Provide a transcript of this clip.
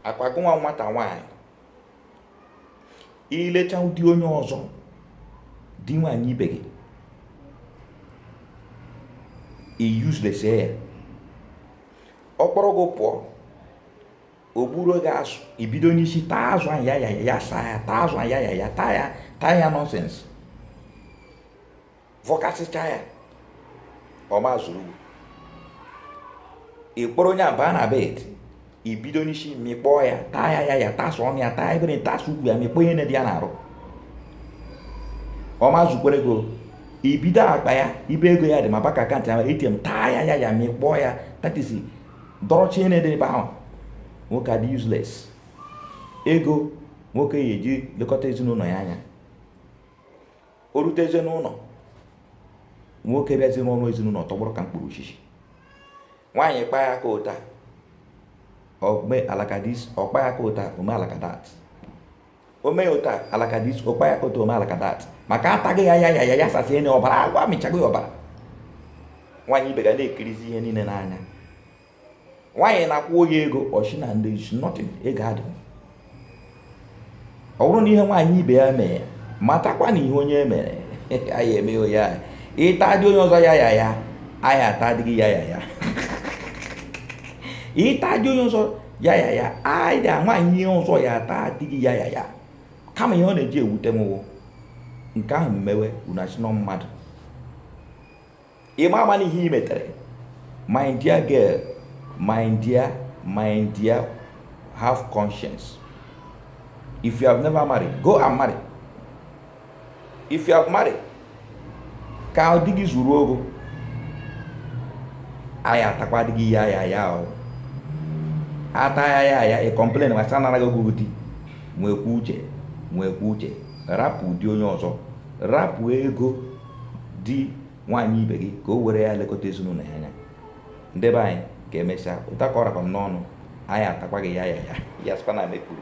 ọkwa gụnwa nwata nwaanyị i lechaa di onye ọzọ di nwaanyị ibe gị i useless ya ọ kpọrọ gị pụọ o gbuoro gị azụ i bido n'isi taa azụ ahụ ya ya ya saa ya taa azụ ahụ ya ya ya taa ya taa ya nonsense vọkasịchaa ya ọ ma ezuru gị ị kpọrọ onye a baa na bed i bido n'isi mịkpọọ ya taa ya ya ya tasụ ọnụ ya taa ebere tasụ ugwu ya mịkpọọ ihe niile dị ya n'arụ ọ ma ezukwere gị i bido akpa ya ibe ego ya dị ma bank account ya ATM taa ya ya ya mịkpọọ ya tatisi dọrọcha ihe niile dị ebe ahụ nwoke adị useless ego nwoke ya eji lekọta ezinụlọ ya anya o rutezie n'ụlọ nwoke bịazi n'ụlọ ezinụlọ tọgbọrọ ka mkpọrọ osisi nwaanyị kpa ya aka ụta o mee alaka dis ọ kpa ya aka ụta o mee alaka dat o mee ya ụta alaka dis ọ kpa ya aka ụta o mee alaka dat maka a tago ya ya ya ya ya sasie na ọbara agwụ a mịchago ya ọbara nwaanyị ibe gị a na-ekirizi ihe niile n'anya nwaanyị nakwuo ya ego ọ sị na there is nothing ego adị ọ bụrụ na ihe nwaanyị ibe ya mee matakwa na ihe onye mere a ya-eme onye ahụ ị taa di onye ọzọ ya ya ya a ya-ata di gị ya ya ya ị taa di onye ọzọ ya ya ya a ya nwaanyị ihe ọzọ ya-ata di gị ya ya ya kama ihe ọ na-eji ewute m nke ahụ mewe unu asị na mmadụ ị ma ama n'ihe i metere my dear girl my dear my dear have conscience if you have never married go and marry if you have married ka di gị zuoro gị o a ya-atakwa di gị ya ya ya o a taa ya ya ya ị complain ma sị anarago gị di nwekwa uche nwekwa uche rapụ di onye ọzọ rapụ ego di nwaanyị ibe gị ka o were ya lekọta ezinụlọ ya anya ndị be anyị ka emesịa ụta ka ọ rakwa m n'ọnụ a ya-atakwa gị ya ya ya ya sịkwa na m kwuru